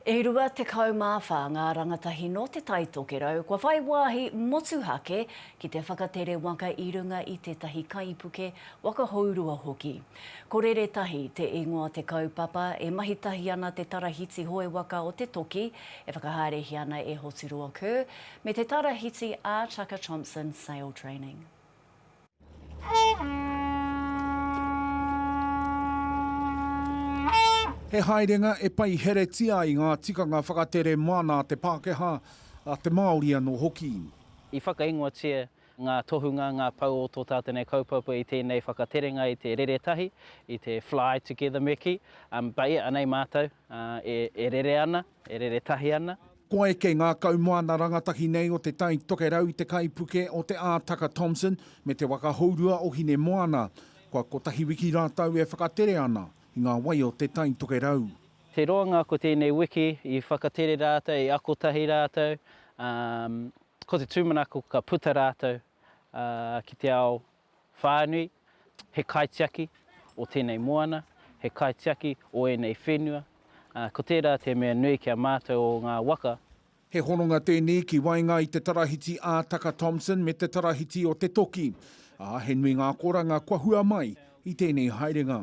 E 24 ngā rangatahi nō Te Tai Tokerau kua whai wāhi motuhake ki te whakatere waka i runga i tētahi kaipuke waka hourua hoki. Ko Rere Tahi te ingoa te kaupapa e mahi tahi ana te Tarahiti Hoe Waka o Te Toki e whakahaerehia ana e Hoturoa Kerr me te Tarahiti ā Chaka Thompson Sail Training. He haerenga e paiheretia ai ngā tikanga whakatere māna a te Pākehā, a te Māori anō hoki. I whakaingoatia ngā tohunga, ngā pou o tō tātou nei kaupapa i tēnei whakaterenga i te rere tahi, i te fly together me kī, baiea nei mātou e rere ana. E rere tahi ana. Kua eke ngā kaumoana rangatahi nei o Te Tai Tokerau i te kaipuke o Te Ātaka Thompson me te waka hourua o Hinemoana. Kua kotahi wiki rātou e whakatere ana i ngā wai o Te Tai Tokerau. Te roa ngā ko tēnei wiki i whakatere rātou, i ako tahi rātou, ā, ko te tūmanako ka puta rātou ki te ao Whānui, he kaitiaki o tēnei moana, he kaitiaki o ēnei whenua, ā, ko tērā te mea nui ki a mātou o ngā waka. He hononga tēnei ki waenga i te Tarahiti ā Taka Thompson me te Tarahiti o Te Toki, ā, he nui ngā akoranga kua hua mai i tēnei haerenga.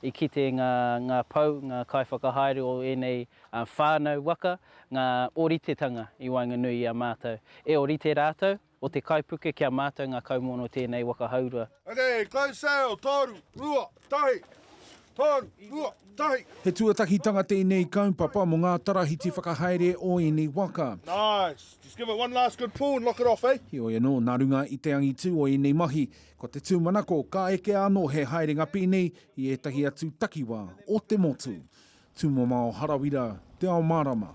I kite ngā pou, ngā kaiwhakahaere o ēnei whānau waka, ngā ōritetanga i waenganui i a mātou. E ōrite rātou, o te kaipuke ki a mātou ngā kaumono tēnei waka haurua. Okay, close sail, toru, rua, tahi, toru, rua, tahi. He tuatakitanga tēnei kaupapa mō ngā tarahiti whakahaere o ēnei waka. Nice, just give it one last good pull and lock it off, eh? Heoi anō, nā runga i te angitu o ēnei mahi, Ko te tūmanako, ka ekea anō he haerenga pīni i ētahi atu takiwā o te motu. Tūmomao Harawira, Te Ao Mārama.